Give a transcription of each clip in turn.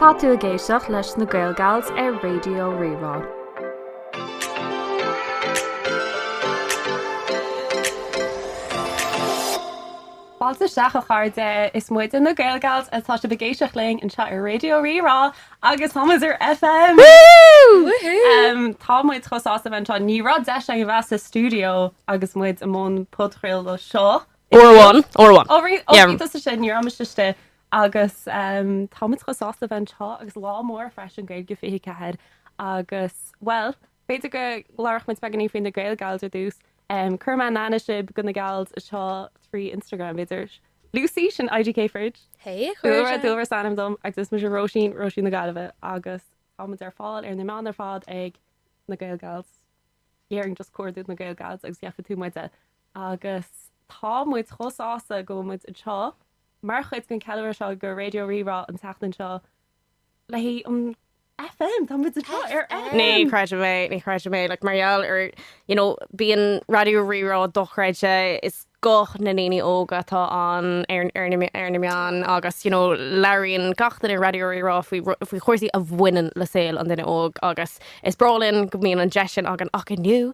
Tá tú ag éisteacht leis na Gaelgals ar Raidió Rí-Rá. Fáilte isteach, a chairde! Is muide na Gaelgals atá sibh ag éisteacht linn anseo ar Raidió Rí-Rá agus táimid ar FM! Tá muid chomh sásta a bheith anseo, ní raibh deis agam a bheith sa stiúideo agus muid i mbun podchraoladh seo Uair amháin, uair amháin. Ó, rith, ó, Yeah. bhí tusa sin, ní raibh mise istigh, agus em, táimid chomh sásta a bheith anseo, agus lá mór freisin, Gaeilge 24, agus, bhuel, b'fhéidir go labhródh muid beagáinín faoi na Gaelgals ar dtús, em, cuirfidh mé in aithne sibh go na gals seo trí Instagram, b'fhéidir. Lucy, sin IDK Fridge. Hey, a chuir Dúlra, sé. Dúlra is ainm dom, agus is mise Róisín, Róisín na Gaillimhe, agus táimid ar fáil ar na meáin ar fad ag na Gaelgals, is féidir just cuardú na Gaelgals agus gheobhaidh tú muide Agus tá muid chomh sásta go bhfuil muid anseo mar chuid den cheiliúradh seo go Raidió Rí-Rá an tseachtain seo le haghaidh an FM, tá muid anseo ar FM! Ní chreidim é, ní chreidim é. Like, mar gheall ar, you know, bíonn Raidió Rí-Rá dochreidte, is guth na ndaoine óga atá ann ar, ar na, ar na meáin agus, you know, labhraíonn gach duine ar Raidió Rí-Rá faoi ru, faoi chúrsaí a bhaineann le saol an duine óg agus is breá linn go mbíonn an deis sin againn ach inniu,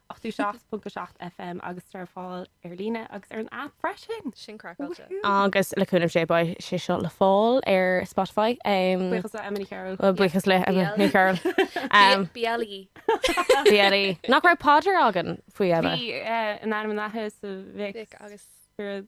87.7 FM agus tá ar fáil ar líne agus ar an aip freisin! Sin craiceáilte. Agus le cúnamh Dé beidh sé seo le fáil ar Spotify. Buíochas le Emma Ní Chearúil. Buíochas le Emma Ní Chearúil. BLE. BLE. Nach raibh paidir againn faoi Emma? Bhí in ainm an Athar is a Mhic agus Spiorad.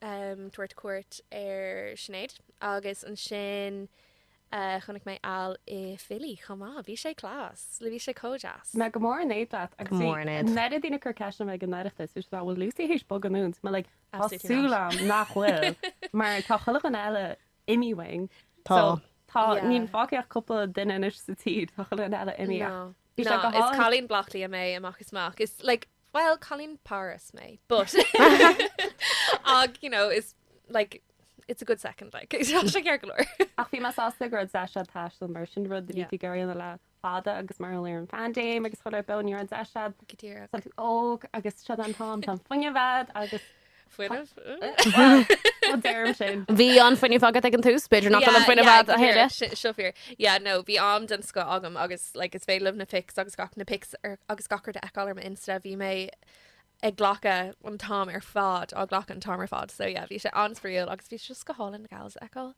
tabhairt cuairt ar Sinéad agus ansin chonaic mé Al i Philly chomh maith. Bhí sé class. Bhí sé comh deas. Mé go mór in éad leat. Go mór in éad. Bhíodar daoine ag cur ceist orm ag an Oireachtas is bhfuil Lucy théis bogadh uainn. Mé like, tá súil agam nach bhfuil mar tá chuile dhuine eile imithe uainn. Tá. Tá. Níl fágtha ach cúpla duine anois sa tír. Tá chuile dhuine eile imithe ach. Bhí sé go hálainn. No, is cailín Blockley mé amach is amach. Is like, well, cailín Páras mé, but ach, you know, is like, it's a good second, like, tá sé ceart go leor. Ach bhí mé sásta go raibh deis a'd taisteal mar sin, rud a bhí Yeah. ag iarraidh a dhéanamh le fada agus mar gheall ar an phaindéim agus COVID, b'fhéidir ní raibh deis a'd Go díreach. Tá tú óg agus seo an t-am tá an fuinneamh a'd agus Fuinneamh? A deirim sin. Bhí an fuinneamh agat ag an tús, b'fhéidir nach bhfuil an fuinneamh a'd a thuilleadh. Seo fíor. Yeah, no, bhí am den scoth agam agus like is féidir libh na pics agus gach, na pics ar, agus gach rud a fheiceáil ar m'Insta, bhí mé ag glacadh an t-am ar fad, á ghlacadh an t-am ar fad. So yeah, bhí sé an-spraíúil agus bhí sé just go hálainn na gals a fheiceáil.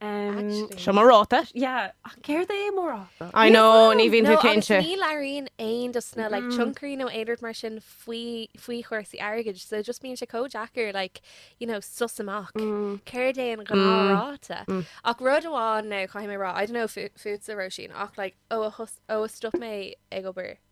Seo mo ráta. Yeah, ach céard é mo ráta? I know, ní bhíonn tú cinnte. No, agus ní labhraíonn aon de na like tionchairí nó aon rud mar sin faoi faoi chúrsaí airgid, so just bíonn sé chomh deacair like, you know, sussáil amach céard é an ghnáthráta. Ach rud amháin now caithfidh mé a rá, I don't know fútsa Róisín, ach like ó a thos, ó a stop mé ag obair,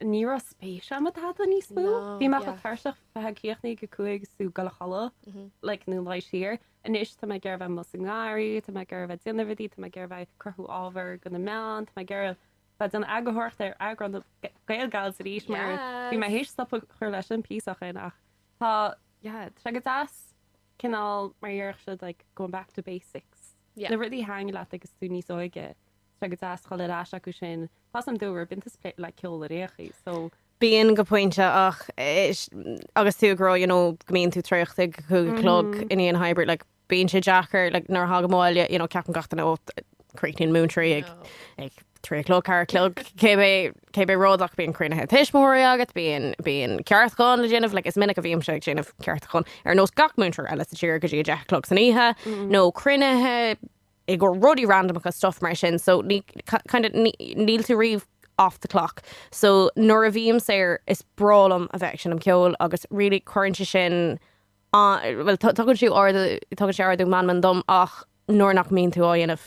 Ní raibh spéis agam i dtada níos mó. Bhí mé chomh tuirseach faoi chríochnú ag a 5 's ag goil a chodladh, like, nó luí siar. Anois tá mé ag iarraidh a bheith amuigh sa ngarraí, tá mé ag iarraidh a bheith déanamh rudaí, tá mé ag iarraidh a bheith ag cruthú ábhar do na meáin, tá mé ag iarraidh a bheith ag déanamh eagarthóireachta ar eagráin GaelGals arís mar bhí mé théis stopadh ag cur leis an bpíosa eicínt ach tá, yeah, tá sé go deas cineál mar a dhéarfadh siad like going back to basics, na rudaí a thaitin leat agus tú níos óige. sé go deas dhul ar ais acu sin. Tá sam dom a raibh baint aige le ceol ar aon chaoi, so. Bíonn go pointe ach agus tú ag rá you know go mbíonn tú traochta ag a cúig a chlog i ndéanamh hybrid like bíonn sé deacair like nuair a thagann abhaile you know ceapann gach duine ó críochnaíonn múinteoirí ag ag trí a chlog ceathair a chlog cibé cibé rud ach bíonn cruinnithe tuismitheoirí agat bíonn bíonn ceartúchán le déanamh like is minic a bhímse ag déanamh ceartúchán ar nós gach múinteoir eile sa tír go dtí a deich a chlog san oíche nó cruinnithe i gcomhair rudaí randamacha, stuff mar sin, so ní, kind of, ní, níl tú riamh off the clock. So nuair a bhím saor, is breá liom a bheith ag seinm ceoil agus really cuireann sé sin an, bhuel tugann sé ardú, tugann sé ardú meanman dom ach nuair nach mbíonn tú á dhéanamh,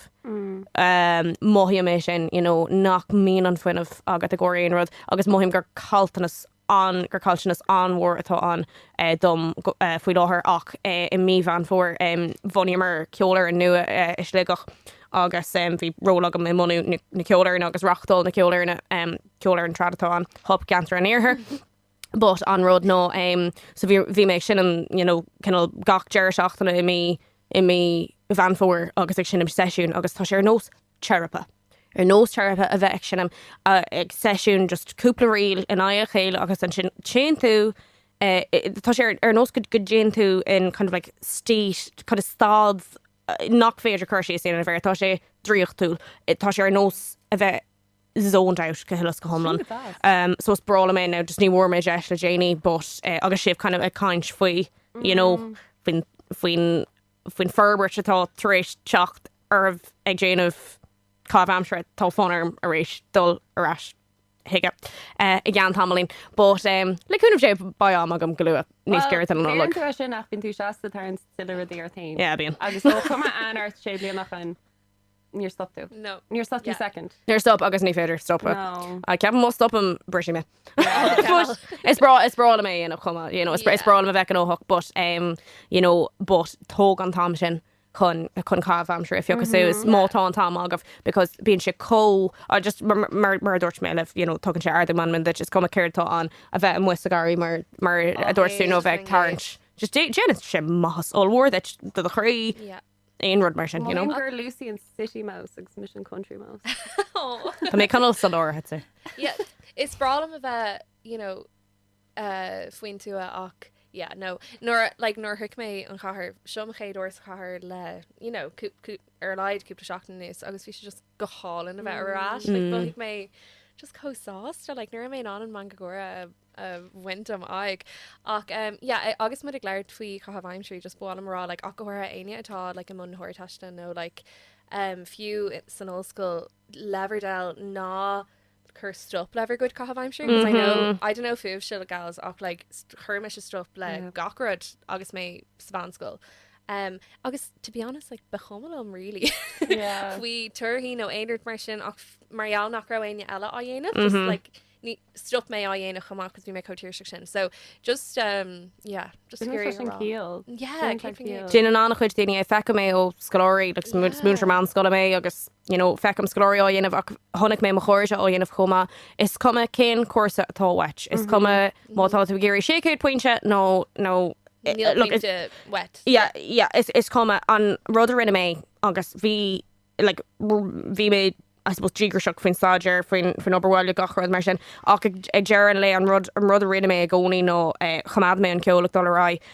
mothaím é sin, you know, nach mbíonn an fuinneamh agat i gcomhair aon rud agus mothaím gur caillteanas an, gur caillteanas an-mhór atá ann dom faoi láthair ach i mí Mheán Fómhair bhunaíomar ceolfhoireann nua i Sligeach agus bhí ról agam i mbunú na ceolfhoirne agus reáchtáil na ceolfhoirne, ceolfhoireann trad atá ann, Hup Ceantar an Iarthair, but an rud ná so bhí mé ag seinm you know cineál gach deireadh seachtaine i mí Mheán Fómhair agus ag seinm seisiúin agus tá sé ar nós teiripe. Ar nós teiripe a bheith ag seinm ag seisiún, just cúpla ríl in aghaidh a chéile agus ansin téann tú, tá sé ar nós go dtéann tú in kind of like state, kind of staid nach féidir cur síos a dhéanamh air, tá sé draíochtúil, tá sé ar nós a bheith zoned out go huile is go hiomlán. So is breá liom é now, just ní bhfuair mé deis le déanaí but agus sibh kind of ag caint faoi, you know, faoin, faoin, faoin forbairt atá tar éis teacht oraibh ag déanamh caitheamh aimsire, tá fonn orm arís dul ar ais chuige i gceann tamaillín, but le cúnamh Dé beidh am agam go luath, níos giorra don Nollaig. Bíonn tú, sin é, nach mbíonn tú seasta ag tarraingt tuilleadh rudaí ort fhéin. Yeah bíonn. Agus an cuimhin leat sé bliana ó shin. Níor stop tú. No. Níor stop tú Yeah. second. Níor stop agus ní féidir stopadh. No. Ceapaim má stopaim, brisfidh mé. But is breá is breá liom é a dhéanamh chomh maith, you know, is, br- is Yeah. breá liom a bheith gnóthach, but, um, you know, but tóg an t-am sin chun, chun caitheamh aimsire a phiocadh suas, má tá an t-am agat, because bíonn sé chomh, I just, mar, mar, mar, mar a dúirt mé leat, you know, tugann sé ardú meanman duit, is cuma céard atá ann, a bheith amuigh sa gharraí mar, mar a dúirt tú, nó a bheith ag tarraingt. Just dé- déanann sé maitheas ollmhór duit, do do chroí. Yeah. aon rud mar sin, you know. Maím gur Lucy an City Mouse agus mise an Country Mouse. Tá mé cineál san áit cheart. Yeah, is breá liom a bheith, you know, eh, faoin tuath ach, yeah, no. Nuair a, like, nuair a shroich mé an chathair, seo mo chéad uair sa chathair le, you know, cúp, cúp, ar a laghad cúpla seachtain anuas, agus bhí sé just, go hálainn a bheith ar ais. Like, bhí mé just chomh sásta, like, ní raibh mé in ann an meangadh gáire a, a bhaint de m'aghaidh. Ach, um, yeah, a- agus muid ag labhairt faoi chaitheamh aimsire, just ba mhaith liom a rá, like, ach go háirithe éinne atá, like, i mbun na hArdteiste nó, like, um, fiú i- san ollscoil, leibhéal, ná, cuir stop le bhur gcuid caitheamh aimsire, 'cause I know, I don't know fúibhse gals, ach like, st- chuir mise stop le Yeah. gach rud agus mé sa mheánscoil. Um, agus, to be honest, like, ba chuma liom really Yeah. faoi torthaí nó aon rud mar sin ach f- mar gheall nach raibh éinne eile á dhéanamh, just Mhm. like, ní, stop mé á dhéanamh chomh maith cos bhí mé chomh tuirseach sin. So, just, um, yeah, just Bíodh ciall. Yeah, Bíodh ciall. Déanann an-chuid daoine é, feicim é ó scoláirí, like, Yeah. is múinteoir meánscoile mé agus you know, feicim scoláirí á dhéanamh ach chonaic mé mo chairde á dhéanamh chomh maith, is cuma cén cúrsa atá uait, is cuma má tá tú ag iarraidh 600 pointe nó, nó, look, pointe uait. yeah, yeah, is, is cuma, an rud a rinne mé, agus bhí, like, r- bhí mé, I suppose, díograiseach faoin staidéar, faoin, faoin obair bhaile, gach rud mar sin, ach ag, ag deireadh an lae, an rud, an rud a rinne mé i gcónaí ná, eh, choimeád mé an ceol ag dul ar aghaidh,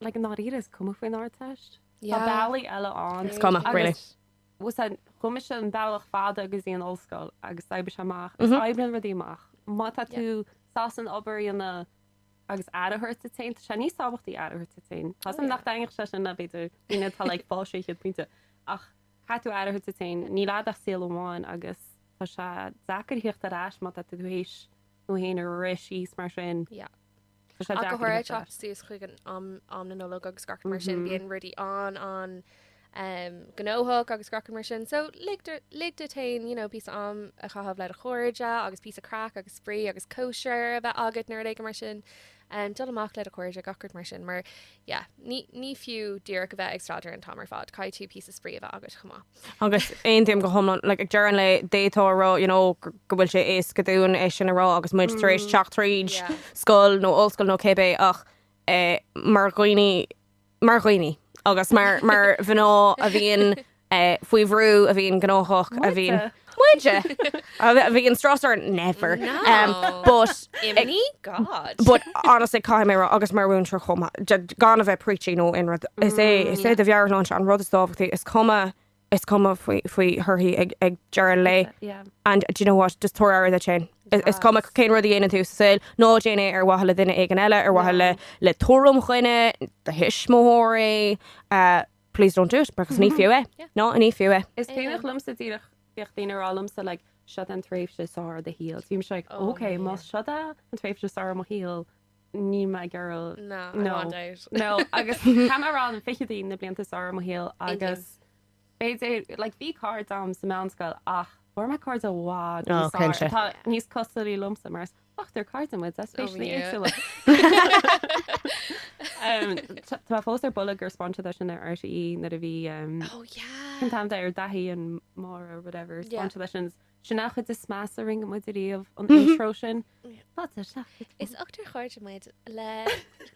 Like i ndáiríre is cuma faoin Ardteist. Tá bealaí eile ann. Is cuma, really. Agus chuaigh mise an bealach fada go dtí an ollscoil agus d'oibrigh sé amach agus oibríonn rudaí amach. Má tá tú sásta an obair a dhéanamh agus aire a thabhairt duit féin, tá sé níos tábhachtaí aire a thabhairt duit féin. Tá's agam nach dtaitníonn sé sin le b'fhéidir daoine atá like fáil 600 pointe. Ach caithfidh tú aire a thabhairt duit féin. Níl agat ach saol amháin agus tá sé deacair a theacht ar ais má tá tú tar éis tú féin a rith síos mar sin. Yeah. Ach go háirithe, teacht suas chuig am na Nollag agus gach rud mar sin, bíonn rudaí an-an gnóthach agus gach rud mar sin. So, lig do, lig duit fhéin, you know, píosa am a chaitheamh le do chairde agus píosa craic agus spraoi agus cóisir a bheith agat nó rud éigin mar sin. Dul amach le do chairde, gach rud mar sin, mar, yeah, ní, ní fiú díreach a bheith ag staidéar an t-am ar fad, caithfidh tú píosa spraoi a bheith agat chomh maith. Agus aontaím go hiomlán, like, ag deireadh an lae, d'fhéadfá a rá, you know, go bhfuil sé éasca dúinn é sin a rá agus muid tar éis teacht tríd scoil nó ollscoil nó cibé ach eh, mar dhaoine, mar dhaoine agus mar, mar mhná a bhíonn eh, faoi bhrú, a bhíonn gnóthach, a bhíonn. Muide! A bhí an strás orainn? Never. But. Imní? God. But honestly, caithfidh mé a rá, agus mar mhúinteoir chomh maith, gan a bheith preachy nó aon rud, is é, is é do mheabhairshláinte an rud is tábhachtaí, is cuma, is cuma faoi thorthaí ag deireadh an lae, and do you know what, just tabhair aire duit féin. Is cuma cén rud a dhéanann tú sa saol, ná déan é ar mhaithe le duine éigin eile, ar mhaithe le tuairim dhaoine, do thuismitheoirí, Please don't do it, because ní fiú é. No ní fiú é. Is cuimhneach liomsa díreach, bhíodh daoine ag rá liomsa like seo é an tréimhse is fearr de do shaol. Bhí mise like oh ok, más seo é an tréimhse is fearr de mo shaol, níl mé ag iarraidh, no, I want out. No, agus ceapaim gurb iad na fichidí na blianta is fearr de mo shaol agus b'fhéidir, like bhí cairde a'm sa meánscoil ach fuair mé cairde i bhfad níos fearr atá níos cosúlaí liomsa mar is. Ochtar cairde muid, especially éagsúla. Tá mé fós ar buile gur spáineadh é sin ar RTÉ nuair a bhí an t-am ar Dáithí and Maura whatever spáineadh é sin. Sin an chuid is measa a rinne muid ariamh an intro sin. Fáilte, seachas. Is ochtar cairde muid le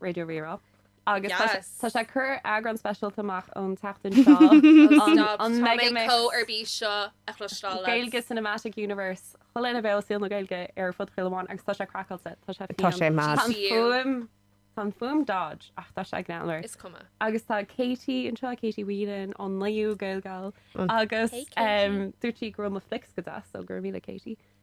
Raidió Rí-Rá agus tá sé- tá sé ag cur eagrán speisialta amach an tseachtain seo. Stop, An Megamix. tá mé chomh ar bís seo a chloisteáil leat. Gaeilge Cinematic Universe, chuile dhuine ó shaol na Gaeilge ar fud chuile áit agus tá sé craiceáilte, tá sé Tá sé fiáin. mad. Tá an GCU. fuaim, tá an fhuaim dodge ach tá sé greannmhar. Is cuma. Agus tá Katie anseo, Katie Whelan ón NUIG Gaelgals agus Hey, Katie. em, dúirt sí go raibh mo flicks go deas so go raibh míle Katie.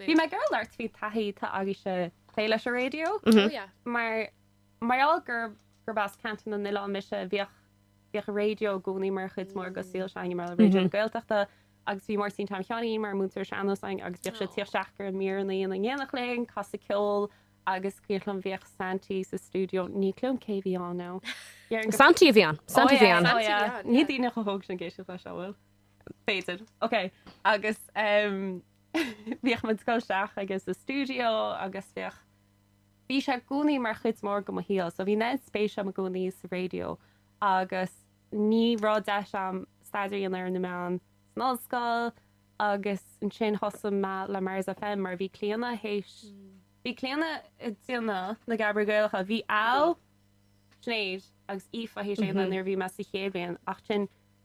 Bhí mé ag iarraidh labhairt faoi taithí atá agaibhse ag plé leis an raidió. Mar gheall gurb gurb as ceantar na n-oileán mise, bhíodh bhíodh raidió i gcónaí mar chuid mór go saol s'againne a mbaile Raidió na Gaeltachta agus bhí Máirtín Tom Sheáinín mar mhúinteoir sean-nóis againn agus bhíodh sé ag tíocht isteach, Ardtráthnóna, ag déanamh linn casadh ceol agus cuimhneach liom bhíodh Santi sa stiúideo ní cuimhin liom cé bhí ann now déarfainn gur Santi a bhí ann Santi bhí ann Santi bhí ann yeah níl daoine chomh hóg sin ag éisteacht leis bhuel b'fhéidir ok agus ehm Bhíodh muid ag dul isteach aige sa stiúideo agus bhíodh, bhí sé i gcónaí mar chuid mór go mo shaol. So bhí neart spéis agam i gcónaí sa raidió agus ní raibh deis agam staidéar a dhéanamh ar na meáin san ollscoil agus ansin thosaigh mé le Mars FM mar bhí Clíona th'éis, bhí Clíona ag déanamh Na Gadhair Ghaelacha, bhí Al, Sinéad agus Aoife th'éis é a dhéanamh nuair a bhí mé sa chéad bhliain ach ansin,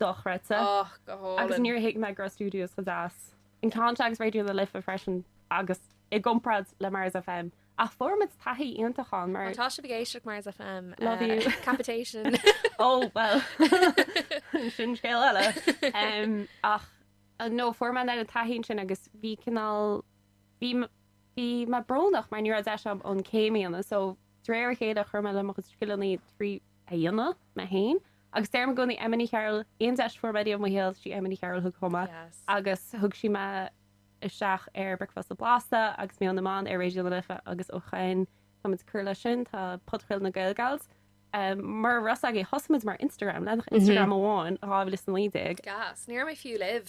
dochreidte. Och, go hálainn. Agus níor thuig mé go raibh studios chomh deas in existence agus Raidió na Life freisin agus i gcomparáid le Mars FM. Ach fuaireamid taithí iontach ann mar. Má tá sibh ag éisteacht Mars FM, Love you. capitation. Ó, bhuel, sin scéal eile. Em, Ach, nó fuair mé an taithí ansin agus bhí cineál, bhí, bhí mé brónach mar ní raibh deis agam an chéim a dhéanamh so de réir a chéile chuir mé le mo scileanna trí a dhéanamh, mé féin agus deirim i gcónaí Emma Ní Chearúil, aon deis a fuair mé i mo shaol, sí Emma Ní Chearúil a thug chugam í agus thug sí mé isteach ar Bricfeasta Blasta agus Meon na mBan ar Raidió na Life agus ó shoin táimid ag cur leis sin, tá Podchraoladh na Gaelgals mar shraith againn, thosaigh muid mar Instagram, leathanach Instagram amháin, 2019. Gas, ní raibh mé fiú libh!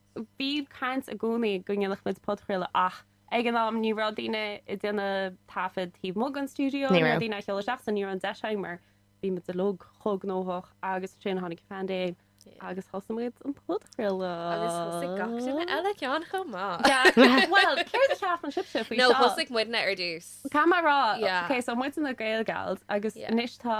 Bhíodh caint i gcónaí go ndéanfadh muid podchraoladh ach ag an am ní raibh daoine ag déanamh taifead taobh amuigh den stiúideo, ní raibh daoine á sheoladh isteach so ní raibh an deis againn mar bhí muid uilig chomh gnóthach agus ansin tháinig Phandéim agus thosaigh muid an podchraoladh. Agus thosaigh gach duine eile ceann chomh maith. Bhuel, céard a cheapann sibhse faoi seo? No, thosaigh muidne ar dtús. Caithfidh mé a rá, okay, so muidne na GaelGals agus anois tá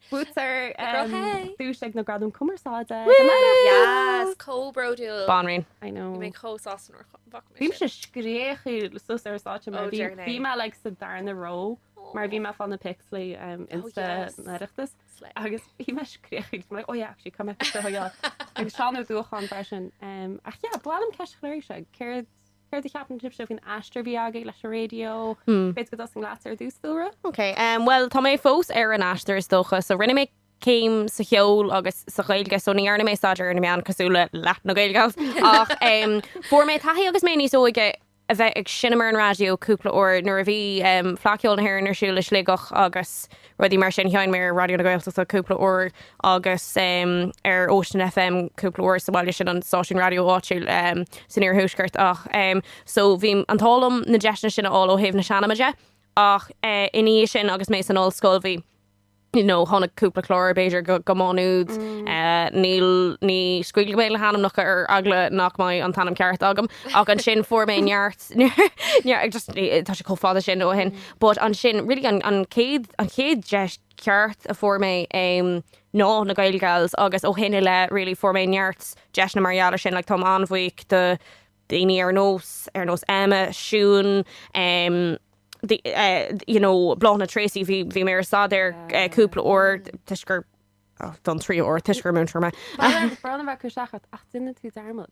Buaiteoir duais ag na Gradaim Chumarsáide. Yes, chomh bródúil. Banríon. I know. Bhí mé chomh sásta nuair a bhfaca mé sin. Bhímse ag scréachadh suas ar an stáitse mar bhí mé like sa darna row mar bhí mé ag fáil na pics le haghaidh Insta an Oireachtais agus bhí mé ag scréachadh agus mé like oh yeah actually caithfidh mé pictiúr a thógáil. Agus Seán Ó Dubhcháin freisin. Ach yeah, bhuel, an cheist shoiléir seo, céard Céard a cheapann sibhse faoin aistear a bhí agaibh leis an raidió? B'fhéidir go dtosóidh mé leatsa ar dtús, Dúlra? OK, bhuel, tá mé fós ar an aistear is dócha. So, rinne mé céim sa cheol agus sa Ghaeilge, so ní dhearna mé staidéar ar na meáin cosúil le leath na Gaelgals ach fuair mé taithí agus mé níos óige a bheith ag seinm ar an raidió cúpla uair nuair a bhí Fleadh Cheoil na hÉireann ar siúl i Sligeach agus rudaí mar sin. Sheinn mé ar Raidió na Gaeltachta cúpla uair agus ar Ocean FM cúpla uair sa bhaile, sin an stáisiún raidió áitiúil san iarthuaisceart ach so bhí an t-ádh liom na deiseanna sin a fháil ó thaobh na seanma de ach ina dhiaidh sin agus mé san ollscoil bhí you know, tháinig cúpla chlár b'fhéidir go go mán úd níl ní scaoilfidh mé le hainmneacha ar eagla nach mbeidh an t-ainm ceart agam ach ansin fuair mé neart Tá sé chomh fada sin ó shin. But ansin, really an chéad, an chéad deis ceart a fuair mé ná na Gaelgals agus ó shin i leith really fuair mé neart deiseanna mar gheall ar sin. Like táim an-bhuíoch do daoine ar nós, ar nós Emma, Siún, you know, Bláthnaid Treacy, bhí, bhí mé ar Staid Aeir cúpla uair toisc gur, oh, don tríú uair toisc gur múinteoir mé. Brón a bheith acu seachas ach d'imigh tú dearmad.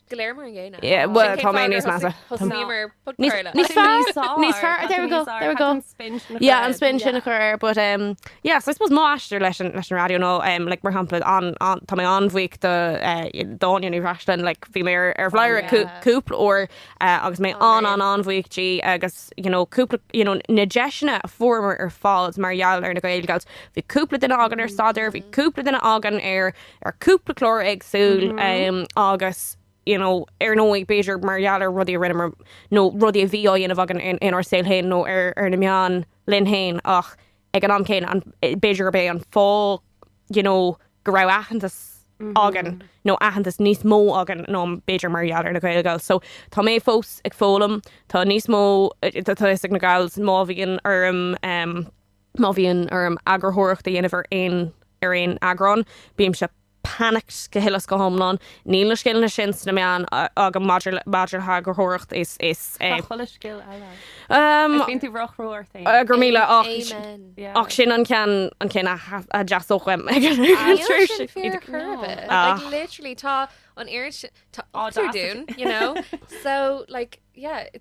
Go léir mar an gcéanna. Yeah, Sin well, cén tá fáth mé gur níos measa. thosaigh- thosaíomar podchraoladh. Níos- níos fearr- Níos fearr, níos fearr, tá tú there we go, níos there we go. Tá tú spin sin a Yeah, chur an air. spin sin a chur air, but um, yeah, so I suppose m'aistear leis an, leis an raidió nó um, like, mar shampla, an, an, tá mé an-bhuíoch do eh, d'Áine Ní Bhreisleáin, like, bhí mé ar, ar Bhladhaire ar cú- yeah. cúpla uair eh, agus mé an, an, an-bhuíoch di agus, you know, cúpla, you know, na deiseanna a fuaireamar ar fad mar gheall ar na Gaelgals, bhí cúpla duine againn ar staidéar, bhí cúpla duine againn ar ar chúpla clár éagsúil agus, you know, ar ndóigh, b'fhéidir mar gheall ar rudaí a rinneamar nó rudaí a bhí á dhéanamh againn inár saol féin nó ar na meáin linn féin ach ag an am céanna an, b'fhéidir gurb é an fáth, you know, go raibh aitheantas againn nó aitheantas níos mó againn ná b'fhéidir mar gheall ar na Gaelgals. So, tá mé fós ag foghlaim, tá níos mó, tá fhios ag na Gals, má bhíonn orm, Má bhíonn orm eagarthóireacht a dhéanamh ar aon, ar aon eagrán, bímse panicked go huile is go hiomlán. Níl na scileanna sin sna meáin agam maidir le, maidir le heagarthóireacht. Is, is é. Tá chuile scil eile ort. Umm. Agus bíonn tú róchrua ort féin. Go raibh míle, ach, Amen. Yeah. ach sin an ceann, an ceann a dteastódh uaim ag an Níl sin tréimhse. fíor Iad ag, chor ar no. bith. Like, Ach. literally, tá an oiread sin, tá ochtar Audacity. dúinn, you know. So, like, yeah,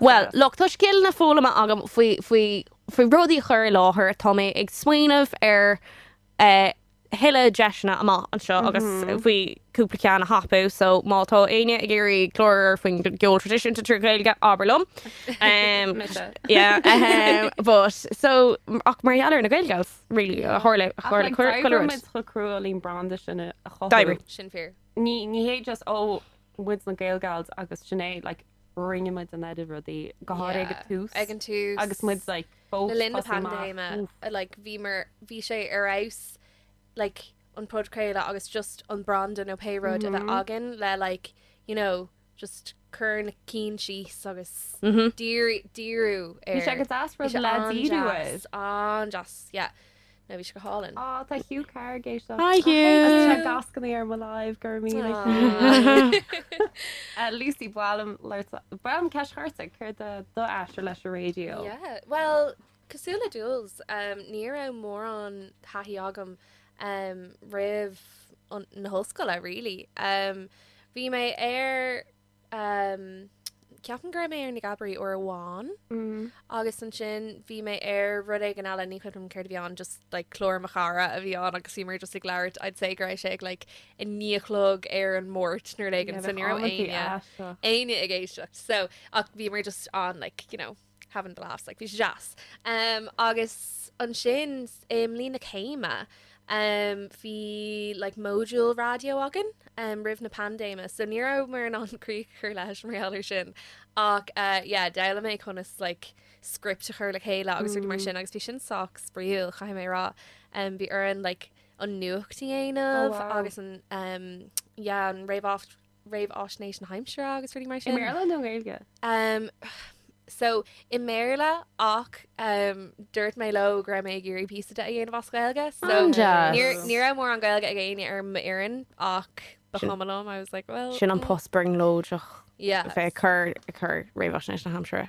Bhuel, look, tá scileanna foghlamtha agam faoi, faoi, faoi rudaí a chur i láthair, tá mé ag smaoineamh ar a thuilleadh deiseanna amach anseo agus faoi cúpla ceann a thapú, so má tá éinne ag iarraidh clár faoin gceol traidisiúnta trí Ghaeilge, abair liom. Mise. Yeah, ahem, but, so, ach mar gheall ar na Gaelgals, really, a tharla, a tharla, cuireadh, cuireadh. D'oibrigh muid chomh crua leis an branda sin a chothú. D'oibrigh. Sin fíor. Ní hé just ó, muid na Gaelgals agus sin é, like, rinne muid an oiread rudaí, go háirithe ag an tús. Ag an tús. Agus muid, like, fós ag tosú amach. Le linn na paindéime, like, bhíomar, bhí sé ar fheabhas, like, an podchraoladh agus just an branda nó pé rud a bheith againn le, like, you know, just cuir na cinn síos agus díriú air. Bhí sé go deas rud le díriú air. An-deas, yeah. No, bhí sé go hálainn. Á, tá Hugh Carr ag éisteacht. Hi Hugh! Agus tá gach duine ar an live, go raibh míle Aww. Lucy, ba mhaith liom labhairt, ba mhaith liom ceist a chur ort, céard é d'aistear leis an raidió? Yeah, bhuel, Cosúil le Jules, ní raibh mórán taithí agam roimh na hollscoile really. Bhí mé ar, ceapaim go raibh mé ar na Gabairí uair amháin agus ansin bhí mé ar rud éigin eile, ní cuimhin liom céard a bhí ann just like clár mo chara a bhí ann agus bhí muid just ag labhairt, I'd say go raibh sé ag like a naoi a chlog ar an Máirt nó rud éigin so ní raibh éinne, éinne ag éisteacht so ach bhí muid just ann like you know. Having the laughs, like bhí sé deas. Agus ansin i mbliain na céime bhí like module raidió againn roimh an bpaindéim so ní rabhamar in ann críoch a chur leis mar gheall ar sin. Ach yeah, d'fhoghlaim mé conas like script a chur le chéile agus rudaí mar sin agus bhí sin sách spraíúil, chaithfidh mé a rá. Bhí orainn like an nuacht a dhéanamh agus an yeah an réamhfháis. réamhfháisnéis na haimsire agus rudaí mar sin. I mBéarla nó i nGaeilge? Um, so, i mBéarla, ach um, dúirt mé leo go raibh mé ag iarraidh píosa de a dhéanamh as Gaeilge. So, An deas. ní, ní raibh mórán Gaeilge ag éinne ar m'fhoireann, ach ba Sin- chuma liom, I was like, well, Sin an mm, post brionglóideach yeah. a bheith ag cur, ag cur réamhfháisnéis na haimsire.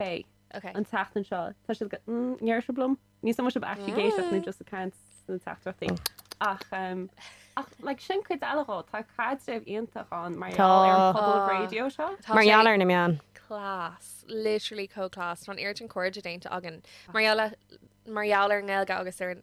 Pé. Ok. An tseachtain seo, tá siad go, mm, ndéarfadh sibh liom? Níl a fhios agam an bhfuil sibh actually ag éisteacht nó just ag caint sna teachtaireachtaí. Ach, em, ach, like, sin cuid eile dhó, tá caidreamh iontach ann mar Tá. gheall ar an pobal Ah. raidió seo. Tá Mar sé gheall ar na meáin. Class. Literally chomh class. Tá an oiread cairde déanta againn. Mar gheall le, mar gheall ar an nGaeilge agus ar an.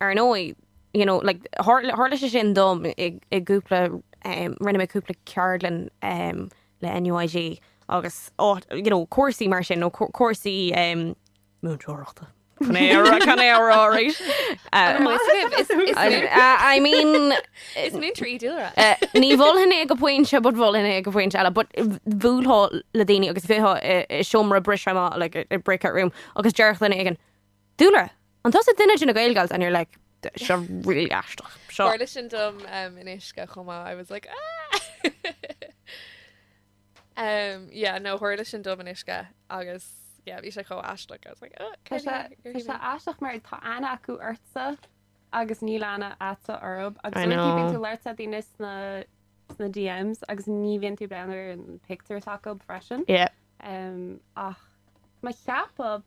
Ar ndóigh, you know, like, thár, tharla sé sin dom i, i gcúpla, em, rinne mé cúpla ceardlann, em, le NUIG agus áit, you know, cúrsaí mar sin nó cúrsaí, em, múinteoireachta, chan é a rá, chan é a rá arís. An maith sibh, is, is, I, I, I mean, is múinteoir í Dúlra. eh, ní mholfainn é go pointe, but mholfainn é go pointe eile, but bhuailfeá le daoine agus bheitheá i, i seomra briseadh amach, like, a, a breakout room, agus déarfadh duine éigin, Dúlra, An tusa duine de na Gaelgals and you're like, this is really aisteach. Seo. Tharla sin dom in Uisce chomh maith, I was like, ahh! Yeah, no, tharla sin dom in Uisce agus yeah, bhí sé chomh aisteach, I was like, ahh, Tá sé, tá sé aisteach mar tá aithne acu ortsa agus níl aithne agatsa orthu agus uaireanta bíonn tú ag labhairt le daoine sna, sna DMs agus ní bhíonn tú ag breathnú ar an pictiúr s'acu freisin. Yeah. Ach má cheapadh.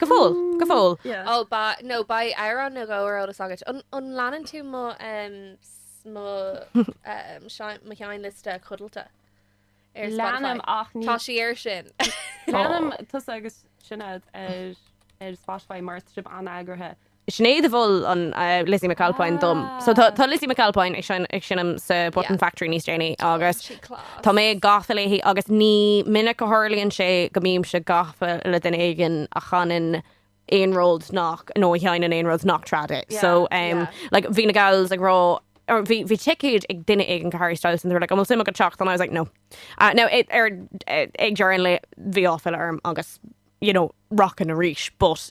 Go fóill, go fóill. Ó, ba, nó beidh amhrán nó dhó ar eolas agat. An, an leanann tú mo, mo, sean, mo sheinnliosta codlata ar Spotify? Leanaim, ach ní. Tá sí air sin. Leanaim tusa agus Sinéad ar, ar Spotify mar tá sibh an-eagraithe. Sinéad a mhol an Lizzie McAlpine dom. So tá Lizzie McAlpine ag seinm sa Button Factory níos déanaí agus tá mé gafa léi agus ní minic a tharlaíonn sé go mbímse gafa le duine éigin a chanann aon rud nach, nó a sheinneann aon rud nach trad é. So like bhí na gals ag rá, bhí ticéad ag duine éigin do Harry Styles and they were like 'an bhfuil suim agat teacht? And I was like 'no'. Now ag deireadh an lae bhí áiféala orm agus you know, rockin' arís but.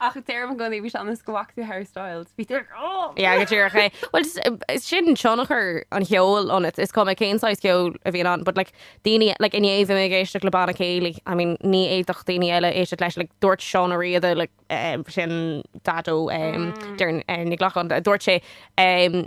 Ach a deir i gcónaí bhí sé ionas go bhfaca tú Harry Styles. Bhí tú ag oh! Yeah, go díreach é. Well, is- is sin tionchar an cheoil ionat. Is cuma cén saghas ceoil a bhíonn ann, but like, daoine, like, inné bhí mé ag éisteacht le Banna Céilí, I mean, ní fhéadfadh daoine eile éisteacht leis, like, dúirt Seán Ó Riada, like, eh, sin Daideo, eh, Doireann, eh, Ní Ghlacáin, dúirt sé, eh,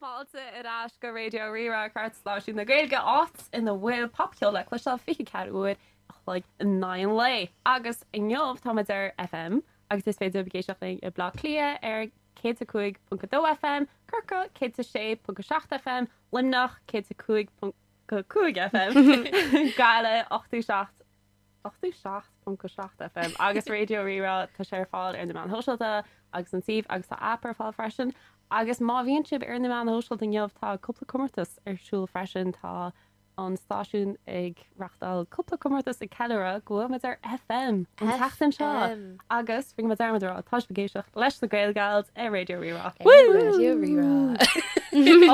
Fáilte ar ais go Raidió Rí-Rá, cairtstáisiún na Gaeilge, áit ina bhfuil popcheol le cloisteáil 24 uair an chloig in aghaidh an lae. Agus inniu táimid ar FM, agus is féidir libh éisteacht linn i Bleá Cliath ar 105.2 FM, Corcaigh 106.7 FM, Luimneach 105.5 FM, Gaillimh 87. 87.7 FM agus Raidió Rí-Rá. Tá sé ar fáil ar na meáin shóisialta agus an suíomh agus tá aip ar fáil freisin. Agus má bhíonn sibh ar na meáin shóisialta inniu tá cúpla comórtas ar siúl freisin. Tá an stáisiún ag reachtáil cúpla comórtas ag ceiliúradh go bhfuil muid ar FM an tseachtain seo agus rinne muid dearmad a rá tá sibh ag éisteacht leis na Gaelgals ar Raidió Rí-Rá. Raidió Rí-Rá.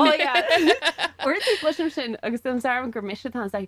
Ó yeah! Uaireanta cloisim sin agus déanaim dearmad gur mise atá anseo.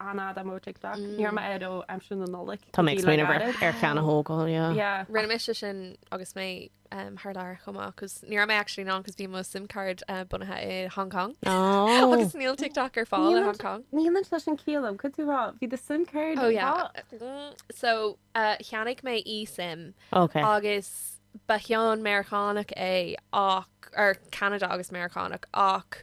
an fhad am' TikTok. Ní raibh mé air ó aimsir na Nollag. Tá mé ag smaoineamh ar ar cheann a thógáil, yeah. Yeah. Rinne mise sin agus mé thar lear chomh maith cos ní raibh mé actually in ann cos bhí mo sim card bunaithe i Hong Kong Oh. agus níl TikTok ar fáil i Hong Kong. Níl muid leis an ciall, cad tú ag rá bhí do sim card Oh yeah. So cheannaigh mé eSIM Ok. agus ba cheann Meiriceánach é ach, or Ceanada agus Meiriceánach ach,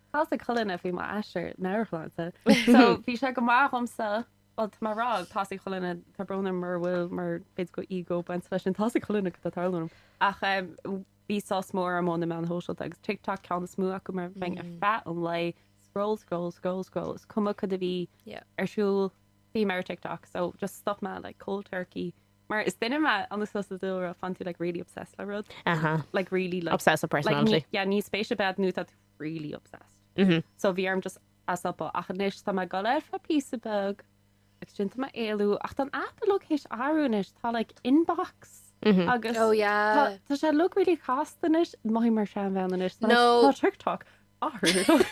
Tá sé ag cur linn faoi m'aistear marathon. So, bhí sé go maith dhomsa, bhuel, tá mé ag rá, thosaigh Cholainne, tá brón orm mura bhfuil, mar b'fhéidir go ego bainte leis sin, thosaigh Cholainne go tarlú orm. Ach bhí sos mór orm ó na meáin shóisialta, agus TikTok an ceann is mó acu, mar bheinn ar feadh an lae, scroll, scroll, scroll, scroll, is cuma cad a bhí ar siúl, bhí mé ar TikTok, so just stop mé, like, cold turkey. Mar is duine mé, ionas leo sa dúlra, faigheann tú, like, really obsessed le rud, like, really, like, obsessive personality, yeah, níl spéis ar bith nó tá tú, really obsessed. So bhí orm just é a stopadh. Ach anois tá mé ag dul ar feadh píosa beag agus déanta mé éalú. Ach tá an aip ar fad tar éis athrú anois. Tá like inbox agus Oh yeah. tá tá sé i log really chasta anois. Maith mar seanbhean anois. Tá No. tá TikTok athrú i log.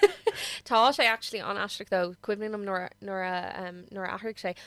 Tá sé actually an-aisteach though. Cuimhin liom nuair a nuair a em nuair a athraigh sé.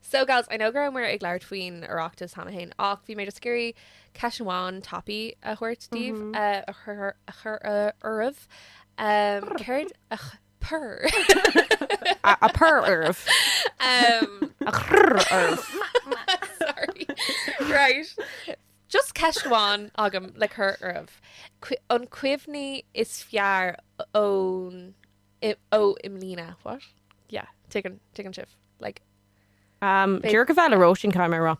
So gals, I know go rabhamar ag labhairt faoin Oireachtas cheana féin, ach bhí mé just ag iarraidh ceist amháin tapaidh a thabhairt daoibh, a chur oraibh. Céard a chur? A chur oraibh. A chur oraibh. Sorry. Right. Just ceist amháin agam le cur oraibh. An cuimhne is fearr ón. i, ó, i mbliana, what? yeah, tuigeann, tuigeann sibh, like, Um, Bhí- D'fheil a bheith le Róisín, caithfidh mé a rá.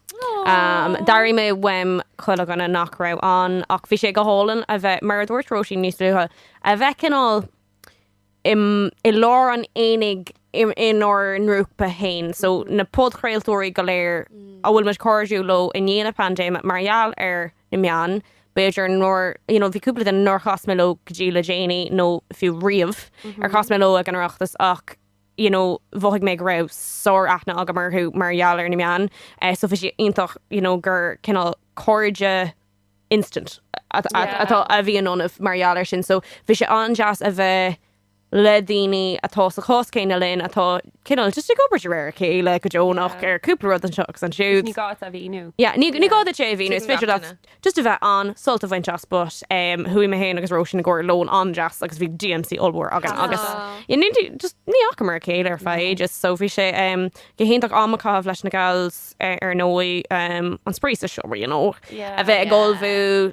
Um, Aww. D'airigh mé uaim chuile dhuine nach raibh ann, ach bhí sé go hálainn a bheith, mar a dúirt Róisín níos luaithe, a bheith cineál im, i lár an aonaigh im, inár ngrúpa féin. So, na podchraoltóirí go léir a bhfuil muid cairdiúil leo i ndiaidh na paindéime mar gheall ar na meáin, b'fhéidir, nuair, you know, bhí cúpla duine nár chas mé leo go dtí le déanaí, nó fiú riamh, ar chas mé leo ag an Oireachtas, ach, you know, mhothaigh mé go raibh sár-aithne agam orthu mar gheall ar na meáin. So bhí sé iontach, you know, gur cineál cairde instant atá, a bhí ionainn mar gheall air sin. So bhí sé an-deas a bheith le daoine atá sa chás céanna linn, atá cineál just ag obair de réir a chéile go deonach ar cúpla rud anseo agus ansiúd. Ní gá duit é a mhíniú. Yeah, ní gá duit é a mhíniú, is féidir leat just a bheith ann, sult a bhaint as but chuaigh mé féin agus Róisín i gcomhair lón an-deas agus bhí DMC ollmhór againn agus just ní fhacamar a chéile ar feadh ages so bhí sé go hiontach am a chaitheamh leis na gals ar ndóigh, an spraoi sa seomra, you know, a bheith ag ullmhú.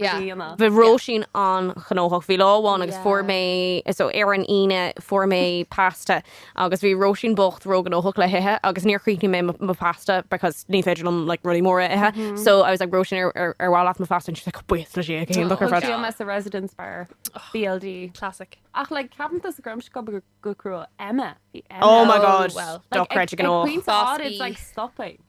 Bhí Róisín an-ghnóthach. Bhí lá amháin agus fuair mé, so ar an Aoine fuair mé pasta agus bhí Róisín bocht róghnóthach le hithe agus níor chríochnaigh mé mo phasta because ní féidir liom like rudaí móra a ithe. So I was like Róisín ar mhaith leat mo phasta and she was like bhuail sí gan look ar fad. Bhí mé sa residence bar BLD. Classic. Ach like ceapaim do sa grom sco go cruúil Emma. Oh my god. Well, dochreidte gnóthach. It's like stopping.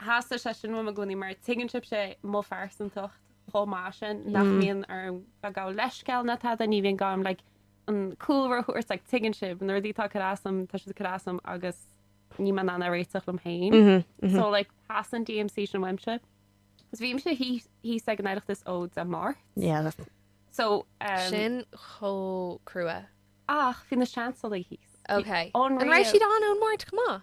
Theastaigh sé sin uaim i gcónaí mar tuigeann sibhse mo phearsantacht chomh maith sin nach mbíonn orm gabháil leithscéal ná tada, ní bhíonn gá dom like an cúlra a thabhairt like tuigeann sibh na rudaí atá ag cur as dom tá siad ag cur as dom agus ní mbím in ann a réiteach liom féin so like theastaigh an DMC sin uaimse. So bhí mise thíos ag an Oireachtas ó Dé Máirt. Yeah that So umm. Sin chomh crua. Ach bhí na seansalaí thíos. Ok. An raibh siad ann ón Máirt chomh maith?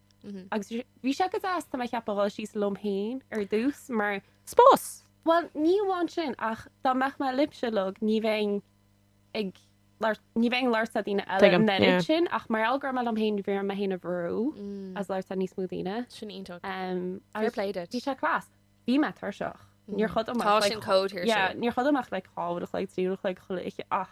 Agus bhí sé go deas, tá mé ag ceapadh, dhul síos liom féin ar dtús, mar spás! Bhuel, ní amháin sin, ach dá mbeadh mé libhse uilig, ní bheinn ag labhairt, ní bheinn ag labhairt le daoine eile an oiread sin, ach mar gheall go raibh mé liom féin, bhí orm mé féin a bhrú as labhairt le níos mó daoine. Sin iontach. Fair play duit. Bhí sé class. Bhí mé tuirseach. Níor chodail mé ach, like, yeah, níor chodail mé ach, like, dhá uair a chloig, trí uair a chloig, chuile oíche, ach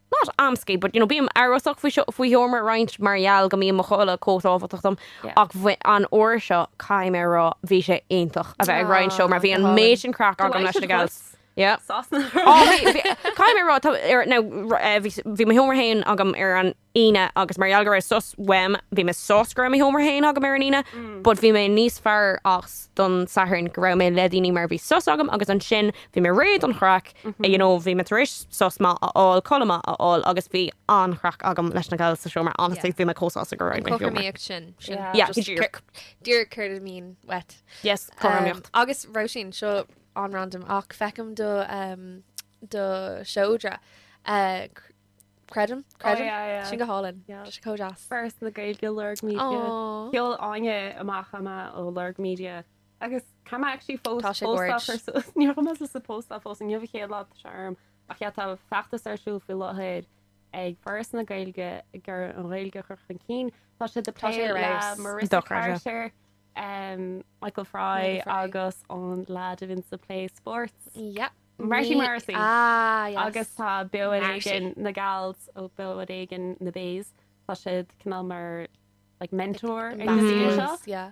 not antsy, but you know, bím amhrasach faoi seo, faoi sheomra roinnt mar gheall go mbíonn mo chodladh chomh tábhachtach dom, ach an uair seo, caithfidh mé a rá, bhí sé iontach a bheith ag roinnt seomra, bhí an méid sin craic agam leis na gals. Yeah. Sasana. Oh, Caithfidh mé a rá, tá, ar, now, r- eh, bhí s- bhí mo sheomra féin agam ar an Aoine agus mar gheall go raibh sos uaim, bhí mé sásta go raibh mo sheomra féin agam ar an Aoine, but bhí mé níos fearr as don Satharn go raibh mé le daoine mar bhí sos agam agus ansin bhí mé réidh don chraic you know, bhí mé tar éis sos maith a fháil, codladh maith a fháil agus bhí an-chraic agam leis na gals sa seomra, honestly, bhí mé chomh sásta go raibh mé ag an seomra. Yeah, just díreach. Díreach céard a bhíonn uait. Yes, cothromaíocht. Agus Róisín, seo an-random ach feicim do do seodra, creidim, creidim, sin go hálainn, sé chomh deas. Foras na Gaeilge Lorg Media. Sheol Áine amach ama ó Lorg Media. Agus caithfidh mé actually post Tá sé fós boird. a chur suas. Níl mé théis é a phostáil fós inniu chéad lá tá sé orm. Ach yeah, tá feachtas ar siúl faoi láthair ag Foras na Gaeilge chun an Ghaeilge a chur chun cinn. Tá siad ag Tá sé plé ar le fheabhas. Marissa Dochar, yeah. Carter, um, Michael Fry Michael Fry. agus an lad a bhíonns ag plé sports. Yep. Marty Ní- Morrissey. Ah, yes. Agus tá Beo ar Marty. Éigean na Gals ó Beo ar Éigean na baes. Tá siad cineál mar like mentor ag na Ambassadors, daoine seo. yeah.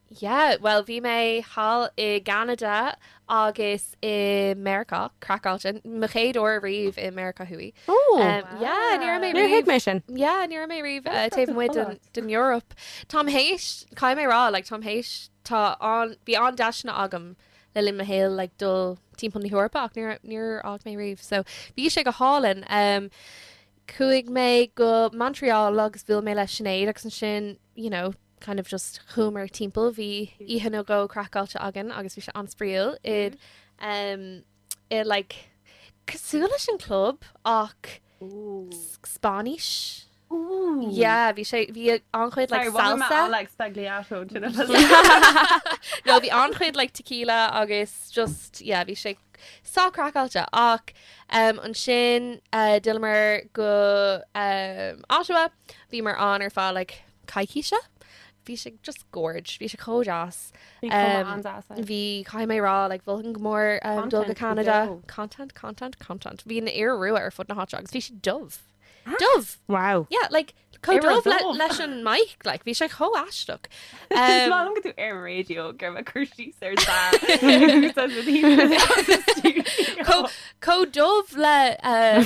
Yeah, bhuel, bhí mé thall i gCeanada agus i Meiriceá, craiceáilte, mo chéad uair riamh i Meiriceá Thuaidh. Ó! Yeah, ní raibh mé riamh. Níor thuig mé sin. Yeah, ní raibh mé riamh taobh amuigh den Eoraip. Táim théis, caithfidh mé rá, like, táim théis, tá an, bhí an-deiseanna agam le linn mo shaoil, like, dul timpeall na hEorpa ach níor, níor fhág mé riamh. So, bhí sé go hálainn. Chuaigh mé go Montreal agus bhuail mé le Sinéad agus ansin, you know, kind of just chuamar timpeall bhí oíche nó dhó craiceáilte againn agus bhí sé an-spraíúil it um it like cosúil leis an club ach Spáinnis Ooh. yeah bhí sé bhí an-chuid like salsa like sbagliato no bhí an-chuid like tequila agus just yeah bhí sé sách craiceáilte ach um ansin uh d'fhilleamar go um Ottawa bhíomar ann ar feadh like coicíse. Bhí sé just gorge, bhí sé chomh deas. Bhí sé chomh um, deas. Eh? Bhí caithfidh mé rá like mholfainn go mór um, dul go Canada. Content, content, content. Bhí an iora rua ar fud na háite agus bhí sé dubh. Ah. Dubh! Wow. Yeah, like chomh dubh le, leis an mic, like, bhí sé chomh aisteach. Um, Má go tú ar radio gur me cur síos air Chomh dubh le uh,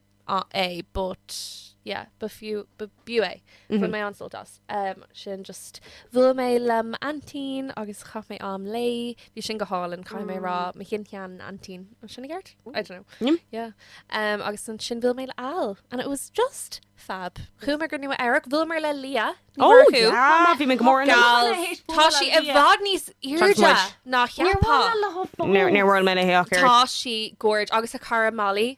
é but yeah ba fiú ba b'fhiú é. Bhain mé an-sult as. Sin just bhuail mé le m'aintín agus chaith mé am léi. Bhí sin go hálainn. Caithfidh mé a rá mo shin-sean-aintín. An sin i gceart? I don't know. Yeah. Agus ansin bhuail mé le Al and it was just fab. Chuamar go Nua Eabhrac. Bhuaileamar le Leah Ní Mhurchú. Oh yeah! Bhí mé go mór ina Tá mé tar éis Tá bualadh sí le i Leah. bhfad níos airde Thanks a much. ná Níor cheapfá. bhuail mé léi fós. Níor bhuail mé léi ach oiread. Tá sí gorge. Agus a cara Molly.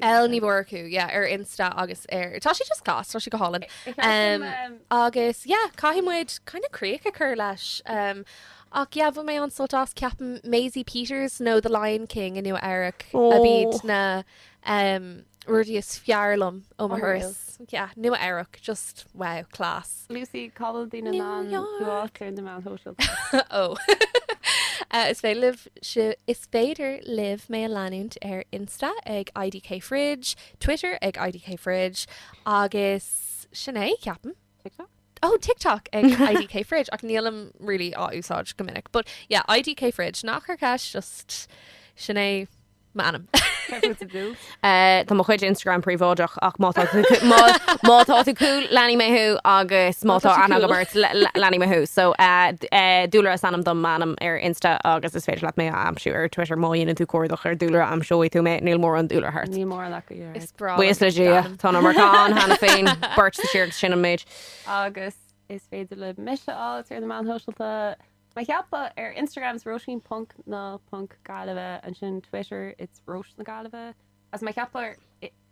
L Ní Mhurchú yeah, ar Insta agus ar tá sé just class, tá sé go hálainn. Um, agus yeah, caithfidh muid kind of críoch a chur leis. Um, ach yeah, bhain mé an-sult as ceapaim Maisie Peters nó The Lion King i Nua Eabhrac ab Oh. iad na um, rudaí is fearr liom ó mo Unreal. thuras. Yeah, Nua Eabhrac, just wow, class. Lucy, cá bhfuil daoine in ann grást ar na meáin shóisialta? Ó! Is féidir libh si, is féidir libh mé a leanúint ar Insta ag IDKFridge, Twitter ag IDKFridge agus sin é, ceapaim. TikTok? Ó, TikTok ag IDKFridge, ach nílim really á úsáid go minic. But yeah, IDKFridge. Ná cuir ceist, just sin é. M'anam. Tá mo chuid Instagram príobháideach ach má tá tú cool leanfaidh mé thú agus má tá aithne agam ort leanfaidh mé thú. So Dúlra is ainm dom, m'ainm ar Insta agus is féidir leat mé a aimsiú ar Twitter má dhéanann tú cuardach ar Dúlra aimseoidh tú mé, níl mórán Dúlra thart. Níl mórán acu díreach. Is breá. Buíochas le Dia, tá an iomarca ann cheana féin, beirt sa tír agus sin an méid. Agus is féidir libh mise a fháilt ar na meáin shóisialta. Mar a cheapfá, ar Instagram is Róisín Ponc na Ponc Gaillimhe, ansin Twitter it's Róis na Gaillimhe, agus mar a cheapfá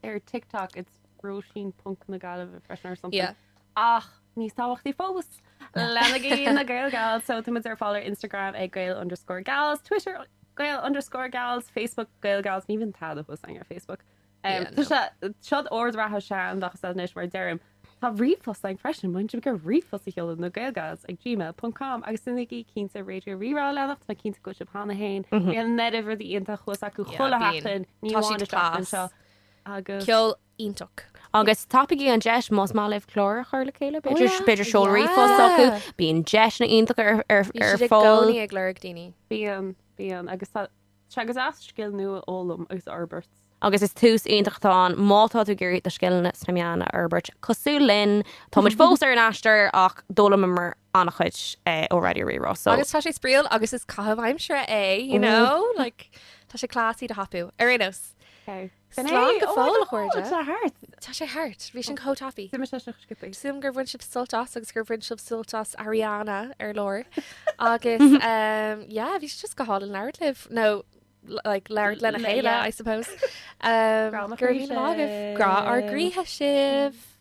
ar TikTok it's Róisín Ponc na Gaillimhe freisin or something. Yeah. Ach níos tábhachtaí fós, leanaigí na GaelGals! So tá muid ar fáil ar Instagram ag Gael underscore Gals, Twitter Gael underscore Gals, Facebook GaelGals, ní bhíonn tada thuas againn ar Facebook. Yeah, no. Tá sé, seo d'ord reatha seandeach is ea anois, mar a deirim. Tá ríomhphost againn freisin, má bhíonn siad ag iarraidh ríomhphost a sheoladh na gaelgals ag gmail ponc com agus déanaigí cinnte Raidió Rí-Rá a leanacht, tá mé cinnte go bhfuil siad cheana féin, bíonn an oiread rudaí iontach thuas acu Yeah, chuile bíonn. sheachtain, ní Tá amháin siad isteach anseo class. agus. Ceol iontach. Agus tapaigí an deis, más maith libh clár a chur le chéile, Oh, b'fhéidir, yeah. b'fhéidir seol ríomhphost chucu, Yeah. bíonn deiseanna iontach ar, ar, Bíonn ar siad i fáil. gcónaí ag lorg daoine. Bíonn, bíonn, agus tá. sé go deas scil nua a fhoghlaim agus a fhorbairt. Agus is tús iontach atá ann má tá tú ag iarraidh do scileanna sna meáin a fhorbairt, cosúil linn. Tá muid fós ar an aistear ach d'fhoghlaimíomar an-chuid ó Raidió Rí-Rá, so. Agus tá sé spraíúil agus is caitheamh aimsire é, you know, like tá sé class é a thapú, ar aon nós. Sin é! Slán go fóill, a chairde! Tá thart! Tá sé thart! Bhí sin chomh tapaí! Suim is leis an Skippy. Súil agam gur bhain sibh sult as agus gur bhain sibh sult as Ariana ar lár. Agus yeah, bhí sé just go hálainn labhairt libh. Nó like labhairt lena chéile, I suppose. Grá ár gcroíthe sibh! Grá ár gcroíthe sibh!